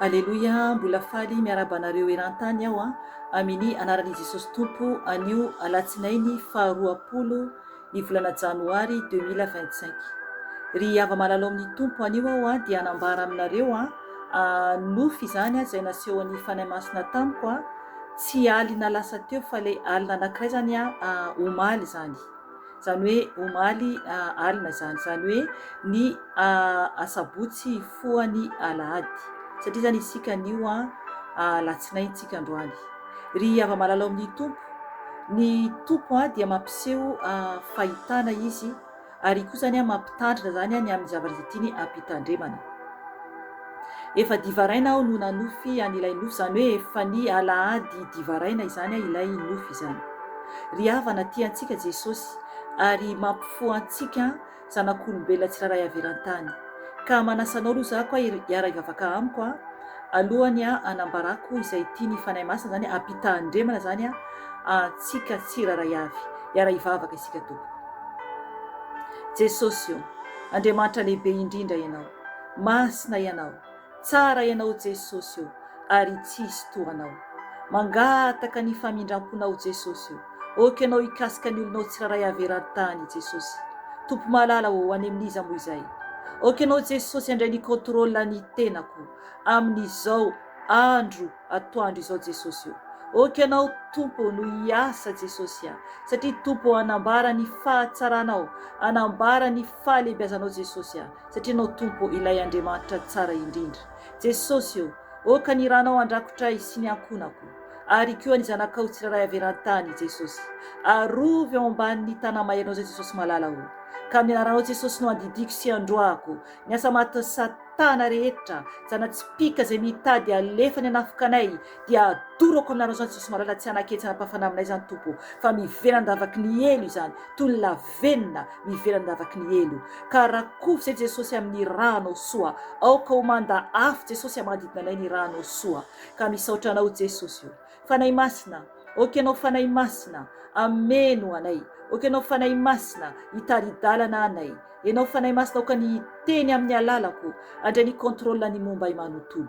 Aleloia mbola faly miarahaba anareo erantany aho amini anaran'i Jesosy Tompo anio alatsinainy faha roapolo ny volana janoary deux mille vingt cinq ry hava malala ao amin'ny Tompo anio aho dia anambara aminareo a nofy izany a izay nasehon'ny Fanahy Masina tamiko a tsy alina lasa teo fa ilay alina anankiray izany a omaly izany izany hoe omaly alina izany, izany hoe ny asabotsy hifohany alahady, satria izany isika anio alatsinainy isika androany. Ry hava-malala ao amin'ny Tompo, ny Tompo dia mampiseho fahitana Izy, ary koa izany mampitandrina izany ny amin'ny zavatra izay tiany hampitandremana. Efa divaraina aho no nanofy an ilay nofy izany hoe efa ny alahady divaraina izany an ilay nofy izany. Ry havana tia antsika Jesosy ary mampifoha antsika an zanak'olombelona tsirairay avy eran-tany. Ka manasa anao aloha za koa hiara hivavaka amiko an alohany an hanambarako izay tian'ny Fanahy Masina izany hampitahandremana izany an antsika tsirairay avy. Hiara hivavaka isika tompoko. Jesosy o! Andriamanitra lehibe indrindra ianao. Masina Ianao, tsara Ianao Jesosy o, ary tsy hisy toa Anao. Mangataka ny famindram-ponao Jesosy o, ok Ianao hikasika ny olonao tsirairay haverary tany Jesosy. Tompo malala o, any amin'iza moa izay. Ok Ianao Jesosy handray ny contrôle ny tenako amin'izao andro atoandro izao Jesosy o. Ok Ianao Tompo no hiasa Jesosy a, satria Tompo hanambara ny fahatsaranao, hanambara ny fahalehibiazanao Jesosy a. satria Ianao Tompo Ilay Andriamanitra tsara indrindra. Jesosy ô, ôka ny Ranao handrakotray sy ny ankonako, ary koa ny zanakao tsirairay avy eran-tany, Jesosy. Arovy ao ambanin'ny Tanamairinao izay Jesosy malala ô. Ka amin'ny Anaranao Jesosy no andidiako sy androahako ny asa matin'i Satana rehetra, zana-tsipìka izay mitady halefa ny hanafika anay, dia adorako amin'ny Anaranao izany Jesosy malala tsy hanaketsy hanam-pahafana aminay izany Tompo ô, fa miverandavaky ny helo izany, toy ny la venona ny ivelan'ny lavaky ny helo, ka rakofy izay Jesosy amin'ny ranao soa, aoka ho manda afo Jesosy a manodidina anay ny ranao soa, ka misaotra anao Jesosy o! Fanahy Masina, aoka ianao Fanahy Masina hameno anay, aoka ianao Fanahy Masina hitari-dalana anay, ianao Fanahy Masina aoka ny hiteny amin'ny alalako, handray ny contrôle ny momba ahy manontolo,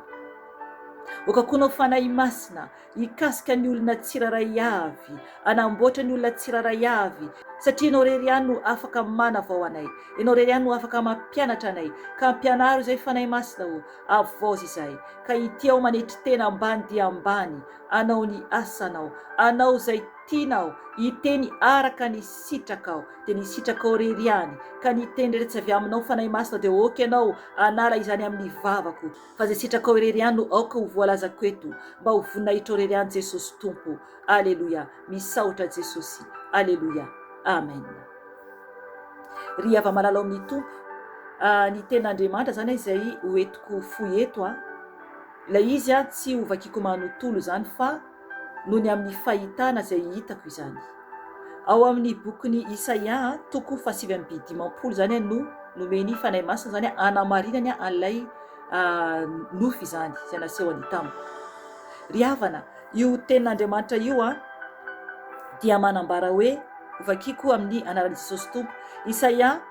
aoka koa ianao Fanahy Masina hikasika ny olona tsirairay avy, hanamboatra ny olona tsirairay avy, satria Ianao irery ihany no afaka manavao anay, Ianao irery ihany no afaka mampianatra anay, ka ampianaro izay Fanahy Masina ô, avoazy izay, ka ity aho manetry tena ambany dia ambany, hanao ny asanao, hanao izay tianao, hiteny araka ny sitrakao, dia ny sitrakao irery ihany, ka ny teny rehetra tsy avy aminao Fanahy Masina dia ok Ianao hanala izany amin'ny vavako, Fa ze sitrakao irery ihany no aoka ho voalazako eto mba ho voninahitrao irery ihany Jesosy Tompo Aleloia misaotra Jesosy Aleloia Amen Ry hava malala ao amin'ny Tompo ah, ny tena Andriamanitra zany izay ho entiko fohy eto an, ilay izy an tsy ho vakiko manontolo zany fa noho ny amin'ny fahitana izay hitako izany. Ao amin'ny bokin'i Isaia, toko fahasivy amby dimampolo izany no nomen'ny Fanahy Masina izany hanamarinany an'ilay nofy izany izay nasehony tamiko. Ry havana, io tenin'Andriamanitra io a dia manambara hoe hovakiko amin'ny anaran'i Jesosy Tompo. Isaia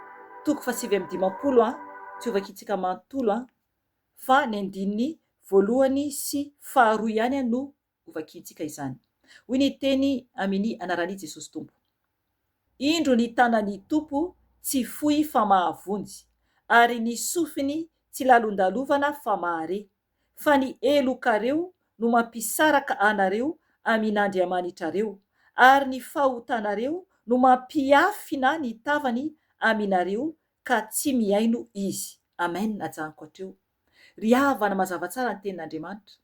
toko fahasivy amby dimampolo a tsy hovakitsika manontolo a. fa ny andininy voalohany sy faharoa ihany no hovakiantsika izany. Hoy ny teny Aminy anarani Jesosy Tompo. Indro ny tanani Tompo tsy fohy fa mahavonjy, ary ny sofiny tsy lalondalovana fa mahare, fa ny helo kareo no mampisaraka anareo amin Andriamanitrareo, ary ny fahotanareo no mampiafina ny tavany aminareo ka tsy mihaino izy. Amen ajanoko hatreo. Ry havana mazava tsara ny tenin'Andriamanitra.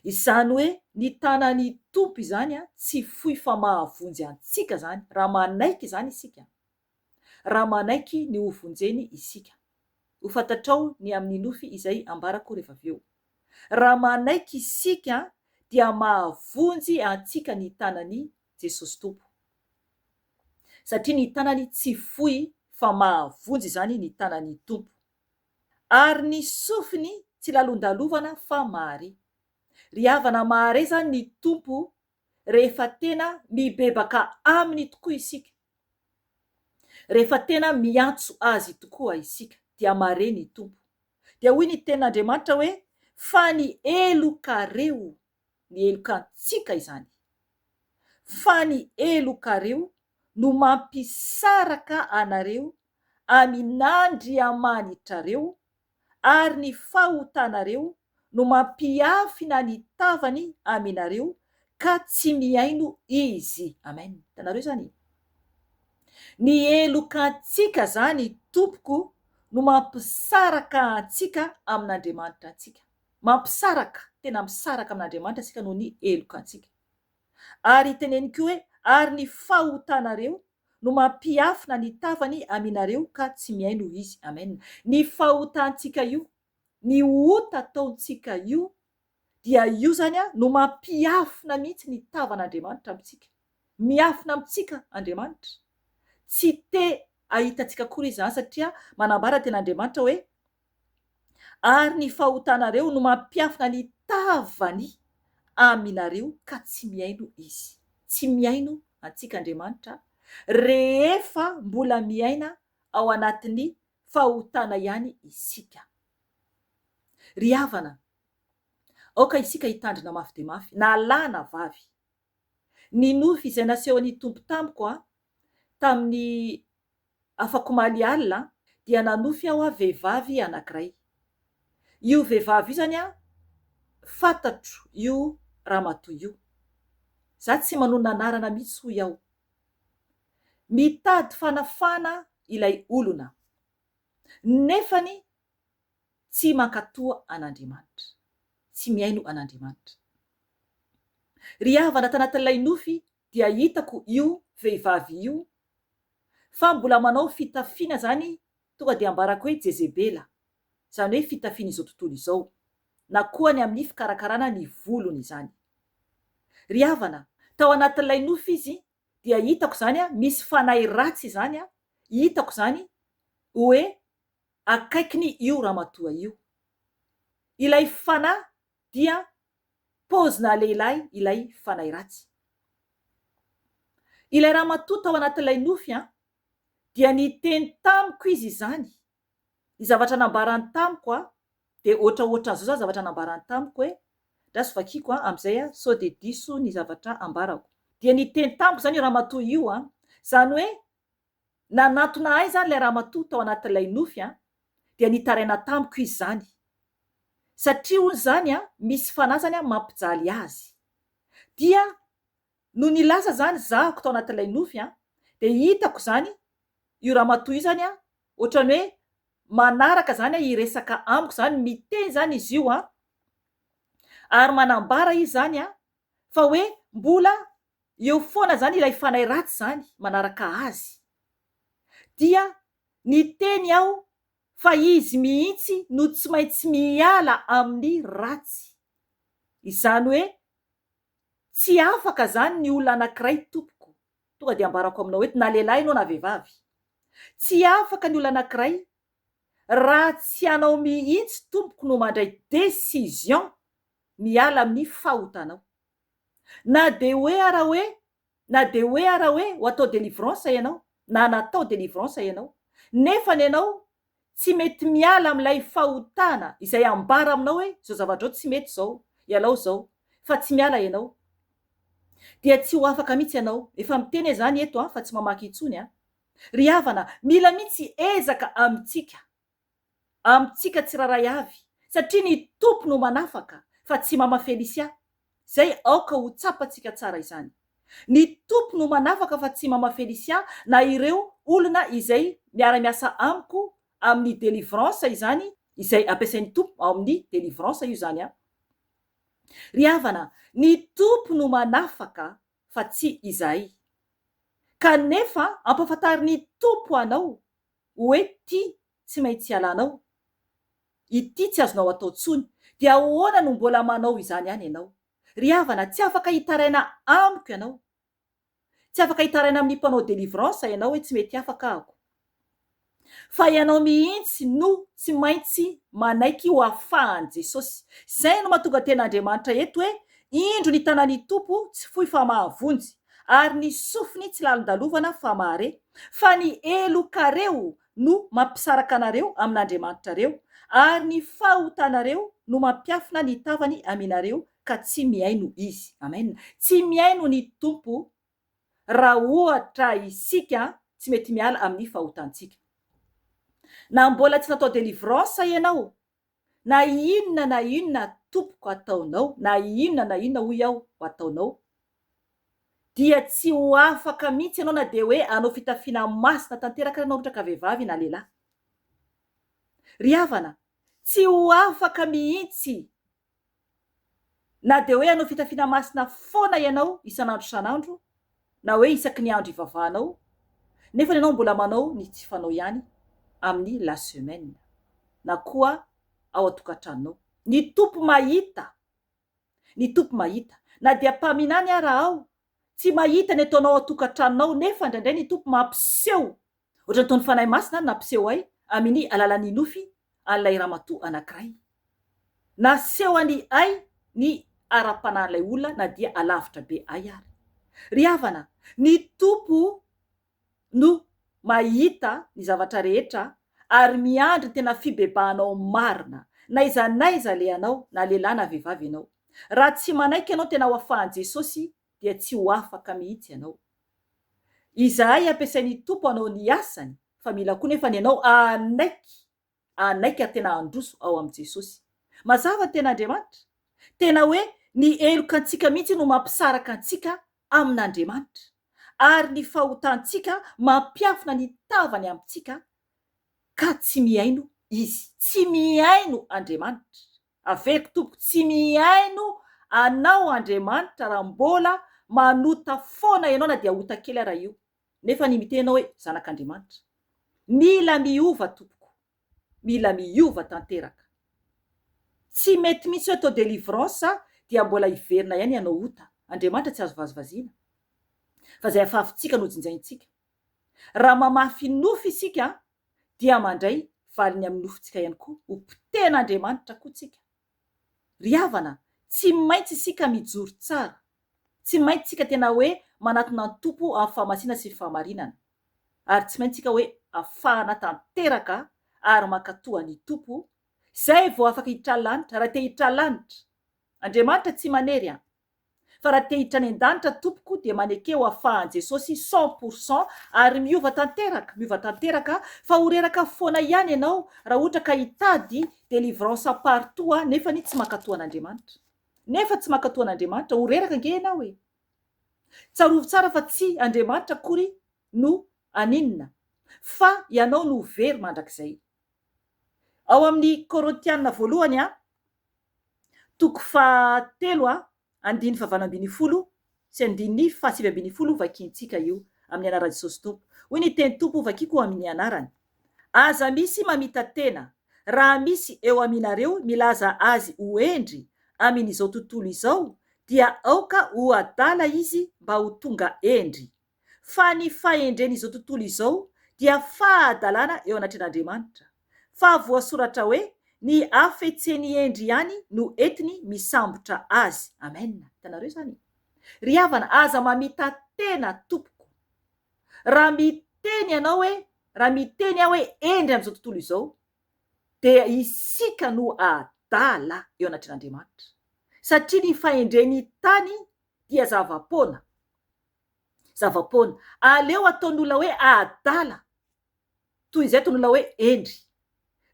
Izany hoe ny tanan'ny Tompo izany tsy fohy fa mahavonjy antsika izany raha manaiky izany isika. Raha manaiky ny ho vonjeny isika. Ho fantatrao ny amin'ny nofy izay ambarako rehefa avy eo. Raha manaiky isika dia mahavonjy antsika ny tanan'i Jesosy Tompo. Satria ny tanany tsy fohy fa mahavonjy izany ny tanan'ny Tompo. Ary ny sofiny tsy lalondalovana fa mahare. Ry havana mahare izany ny Tompo rehefa tena mibebaka Aminy tokoa isika. Rehefa tena miantso Azy tokoa isika dia mahare ny Tompo. Dia hoy ny tenin'Andriamanitra hoe, Fa ny heloka reo. ny helokantsika izany, fa ny helokareo no mampisaraka anareo amin'Andriamanitrareo, ary ny fahotanareo no mampiafina ny tavany aminareo ka tsy mihaino Izy. Amen. Hitanareo izany e? Ny helokantsika izany, tompoko, no mampisaraka antsika amin'Andriamanitra antsika. Mampisaraka, tena misaraka amin'Andriamanitra isika noho ny helokantsika. Ary teneniko hoe, Ary ny fahotanareo no mampiafina ny tavany aminareo ka tsy mihaino izy. Amen. Ny fahotantsika io, ny ota ataontsika io, dia io izany no mampiafina mihitsy ny tavan'Andriamanitra amintsika. Miafina amintsika Andriamanitra. Tsy te hahita antsika akory izy izany satria manambara ny tenin'Andriamanitra hoe, ary ny fahotanareo no mampiafina ny tavany aminareo ka tsy mihaino Izy. Tsy mihaino antsika Andriamanitra rehefa mbola miaina ao anatin'ny fahotana ihany isika. Ry havana, aoka isika hitandrina mafy dia mafy, na lahy na vavy. Ny nofy izay nasehon'ny Tompo tamiko, tamin'ny Afak'omaly alina dia nanofy aho a vehivavy anankiray. Io vehivavy io zany a fatatro io ramatoa io. Za tsy manonona anarana mihitsy hoy aho. Mitady fanafana ilay olona nefany tsy mankatò an'Andriamanitra, tsy mihaino an'Andriamanitra. Ry havana tanatin'ilay nofy dia hitako io vehivavy io fa mbola manao fitafiana zany tonga dia ambarako hoe jezebela, zany hoe fitafian'izao tontolo izao, na koa ny amin'ny fikarakarana ny volony izany. Ry havana, tao anatin'ilay nofy izy dia hitako zany misy fanahy ratsy izany, hitako zany oe akaikiny io ramatoa io. Ilay fanahy dia paozina lehilahy ilay fanahy ratsy. Ilay ramatoa tao anatin'ilay nofy an, dia niteny tamiko izy izany, ny zavatra nambarany tamiko an, dia ohatraohatran'izao izany zavatra nambarany tamiko hoe, andraso vakiako an, amin'izay an, sao dia diso ny zavatra ambarako. Dia niteny tamiko izany io ramatoa io an, izany hoe Nanatona ahy izany ilay ramatoa tao anatin'ilay nofy an, dia nitaraina tamiko izy izany. Satria hono izany an, misy fanasany an mampijaly azy. Dia nony nilaza izany zahako tao anatin'ilay nofy an, dia hitako izany io ramatoa io izany an, ohatran'ny hoe manaraka izany an hiresaka amiko izany, miteny izany izy io an, ary manambara izy izany an, fa hoe mbola eo foana zany ilay fanahy ratsy zany manaraka azy dia niteny aho fa izy mihitsy no tsy maintsy miala amin'ny ratsy izany hoe tsy afaka zany ny olona anakiray tompoko tonga dia ambarako aminao eto na lehilahy ianao na vehivavy tsy afaka ny olona anakiray raha tsy ianao mihitsy tompoko no mandray decision miala amin'ny fahotanao. Na dia hoe ara hoe, na dia hoe ara hoe ho atao délivrance ianao, na natao délivrance ianao, nefa ny anao tsy mety miala amin'ilay fahotana izay ambara aminao hoe izao zavatra izao tsy mety izao, ialao izao, fa tsy miala ianao, dia tsy ho afaka mihitsy ianao. Efa miteny aho izany eto an, fa tsy mamaky intsony an. Ry havana, mila mihitsy ezaka amintsika. amintsika tsirairay avy satria ny Tompo no manafaka fa tsy Mama Felicia zay aoka ho tsapantsika tsara izany. Ny Tompo no manafaka fa tsy Mama Felicia na ireo olona izay miara-miasa amiko amin'ny delivrance izany izay ampiasain'ny Tompo ao amin'ny delivrance io izany an. Ry havana ny Tompo no manafaka fa tsy izahay. Kanefa ampafantarin'ny Tompo anao Hoe ty tsy maintsy ialanao, ity tsy azonao atao tsony, dia ahoana no mbola manao izany ihany ianao? Ry havana, tsy afaka hitaraina amiko ianao. Tsy afaka hitaraina amin'ny mpanao délivrance ianao hoe tsy mety afaka ahako. Fa ianao mihitsy no tsy maintsy manaiky ho afahan'i Jesosy. Izay no mahatonga tena Andriamanitra eto hoe, Indro ny tanan'ny Tompo tsy fohy fa mahavonjy. ary ny sofiny tsy lalondalovana fa mahare, fa ny helokareo no mampisaraka anareo amin'Andriamanitrareo, ary ny fahotanareo no mampiafina ny tavany aminareo ka tsy mihaino Izy. Amen. Tsy mihaino ny Tompo raha ohatra isika tsy mety miala amin'ny fahotantsika. Na mbola tsy natao delivrance ianao Na inona na inona tompoko ataonao, na inona na inona hoy aho ho ataonao, dia tsy ho afaka mihitsy ianao na dia hoe hanao fitafiana masina tanteraka ary ianao ohatra ka vehivavy na lehilahy. Ry havana, tsy ho afaka mihitsy. Na dia hoe hanao fitafiana masina foana ianao isan'andro isan'andro, na hoe isaky ny andro ivavahanao, nefa ianao mbola manao ny tsy fanao ihany amin'ny la semaine, na koa ao an-tokantranonao. Ny Tompo mahita! Ny Tompo mahita! Na dia mpaminany ara aho, tsy mahita ny ataonao ao an-tokantranonao, nefa indraindray ny Tompo mampiseho Ohatra ny toa ny Fanahy Masina ary nampiseho ahy amin' ny alalan' ny nofy an' ilay ramatoa anankiray. Nasehony ahy ny ara-panahin' ilay olona na dia alavitra be ahy ary. Ry havana, ny Tompo no mahita ny zavatra rehetra ary miandry tena fibebahanao marina, n'aiza n'aiza alehanao, na lehilahy na vehivavy ianao. Raha tsy manaiky ianao tena ho afahan' Jesosy, dia tsy ho afaka mihitsy ianao. Izahay ampiasain'ny Tompo hanao ny asany fa mila koa nefa ny anao hanaiky hanaiky ary tena handroso ao amin'i Jesosy. Mazava ny tena Andriamanitra. Tena hoe ny heloka antsika mihitsy no mampisaraka antsika amin'Andriamanitra ary ny fahotantsika mampiafina ny tavany amintsika ka tsy mihaino Izy. Tsy mihaino Andriamanitra. Aveko tompoko tsy mihaino anao Andriamanitra raha mbola manota foana ianao na dia ota kely ara io nefa ny mitenao hoe zanak'Andriamanitra. Mila miova tompoko. Mila miova tanteraka. Tsy mety mihitsy hoe atao delivrance dia mbola hiverina ihany hanao ota. Andriamanitra tsy azo vazivaziana. Fa izay afafintsika no jinjaintsika. Raha mamafy nofy isika dia mandray valiny amin'ny nofontsika ihany koa ho potehin'Andriamanitra koa tsika. Ry havana, tsy maintsy isika mijoro tsara. Tsy maintsy tsika tena hoe manatona an'i Tompo amin'ny fahamasiana sy fahamarinana. Ary tsy maintsy tsika hoe afahana tanteraka ary mankatò an'i Tompo, izay vao afaka hitralanitra, raha te hitralanitra. Andriamanitra tsy manery an! Fa raha te hiditra any an-danitra tompoko dia maneke ho afahan'i Jesosy cent pour cent ary miova tanteraka, miova tanteraka fa ho reraka foana ihany ianao raha ohatra ka hitady delivrance partout a, nefany tsy mankatoa an'Andriamanitra. Nefa tsy mankatoa an'Andriamanitra, ho reraka ange ianao e! Tsarovy tsara fa tsy Andriamanitra akory no aninona, fa ianao no ho very mandrakizay. Ao amin'ny Korintiana voalohany a, toko faha telo a, andininy faha valo ambin'ny folo sy andininy faha sivy ambin'ny folo vakiantsika io amin'ny anaran'i Jesosy Tompo. Hoy ny teny Tompo, Vakiko amin'ny anarany. Aza misy mamita tena, raha misy eo aminareo milaza azy ho hendry amin'izao tontolo izao, dia aoka ho adala izy mba ho tonga hendry. fa ny fahendren'izao tontolo izao dia fahadalana eo anatrehan'Andriamanitra, fa voasoratra hoe, Ny hafetsen'i Hendry ihany no entiny misambotra azy. Amen. Hitanareo izany e? Ry havana, aza mamita-tena tompoko. Raha miteny ianao hoe, raha miteny aho hoe Hendry amin'izao tontolo izao, dia isika no adala eo anatrehan'Andriamanitra. Satria ny fahendren'ny tany dia zava-poana. zava-poana. Aleo ataon'ny olona hoe adala toy izay ataon'ny olona hoe hendry.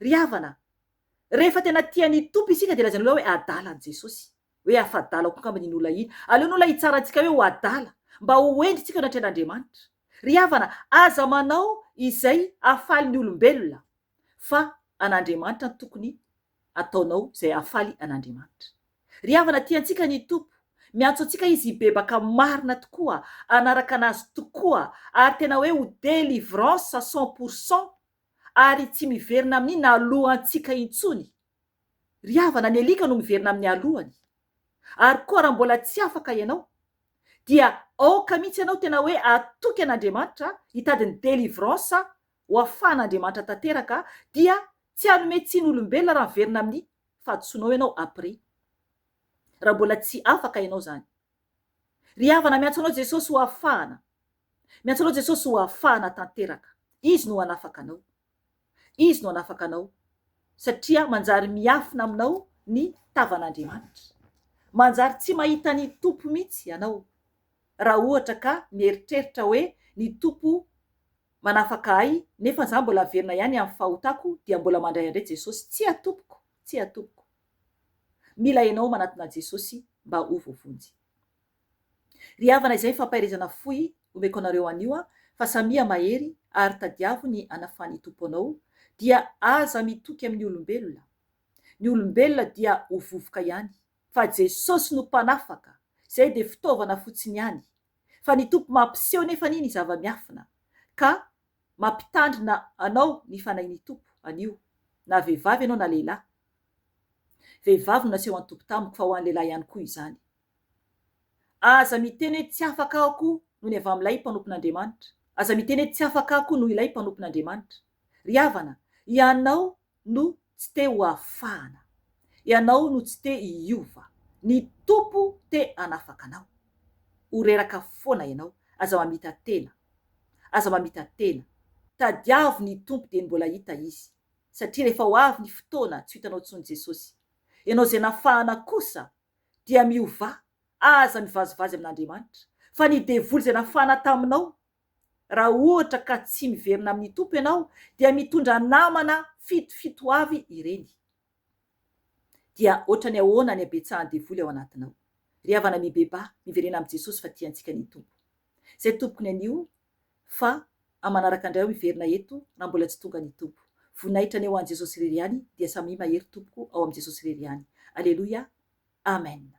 Ry havana a! Rehefa tena tia ny Tompo isika dia lazain'ny olona hoe adala an'i Jesosy. Hoe afa-dala koa angamba iny olona iny. Aleon'ny olona hitsara antsika hoe ho adala mba ho hendry isika eo anatrehan'Andriamanitra. Ry havana, aza manao izay hahafaly ny olombelona. fa an'Andriamanitra no tokony ataonao izay hahafaly an'Andriamanitra. Ry havana, tia antsika ny Tompo, miantso antsika Izy hibebaka marina tokoa, hanaraka an'Azy tokoa, ary tena hoe ho délivrance cent pour cent, ary tsy miverina amin'ny naloantsika intsony. Ry havana, ny alika no miverina amin'ny aloany. Ary koa raha mbola tsy afaka ianao, dia aoka mihitsy ianao tena hoe hatoky an'Andriamanitra hitady ny délivrance ho afahan'Andriamanitra tanteraka dia tsy hanome tsiny olombelona raha miverina amin'ny fahadisoanao ianao après raha mbola tsy afaka ianao zany ry havana miantso anao Jesosy ho afahana miantso anao Jesosy ho afahana tanteraka izy no hanafaka anao izy no hanafaka anao satria manjary miafina aminao ny tavan'Andriamanitra manjary tsy mahita ny Tompo mihitsy ianao raha ohatra ka mieritreritra hoe ny Tompo manafaka ahy nefa za mbola averina ihany am fahotako dia mbola mandray andre Jesosy tsia tompoko tsia tompoko mila enao manatona Jesosy mba ho voavonjy ry havana izay fampaherezana fohy omeko anareo anio a fa samia mahery ary tadiavo ny anafan i Tompo anao dia aza mitoky amin ny olombelona ny olombelona dia ho vovoka ihany fa Jesosy no mpanafaka zay dia fitaovana fotsiny ihany fa ny Tompo mampiseho nefa anie ny zava-miafina ka mampitandrina anao ny Fanahin'ny Tompo anio na vehivavy ianao na lehilahy. Vehivavy no naseho an'ny Tompo tamiko fa ho an'ny lehilahy ihany koa izany. Aza miteny hoe tsy afaka ako noho ny avy amin'ilay mpanompon'Andriamanitra. Aza miteny hoe tsy afaka ako noho ilay mpanompon'Andriamanitra. Ry havana, hianao no tsy te ho afahana. Ianao no tsy te hiova. Ny Tompo te hanafaka anao. Ho reraka foana ianao. Aza mamita tena. Aza mamita tena. Tadiavo ny Tompo dieny mbola hita Izy. Satria rehefa ho avy ny fotoana tsy ho hitanao intsony Jesosy. Ianao izay nafahana kosa dia miovà. Aza mivazivazy amin'Andriamanitra. Fa ny devoly izay nafahana taminao Raha ohatra ka tsy miverina amin'ny Tompo ianao dia mitondra namana fitofito avy ireny. Dia ohatrany ahoana ny habetsahan'ny devoly ao anatinao? Ry havana mibebaha, miverena amin'i Jesosy fa tiantsika ny Tompo. Zay tompoko ny anio fa amanaraka indray aho miverina eto raha mbola tsy tonga ny Tompo. Voninahitra ny ho an'i Jesosy irery ihany dia samia mahery tompoko ao amin'i Jesosy irery ihany. Aleloia. Amena.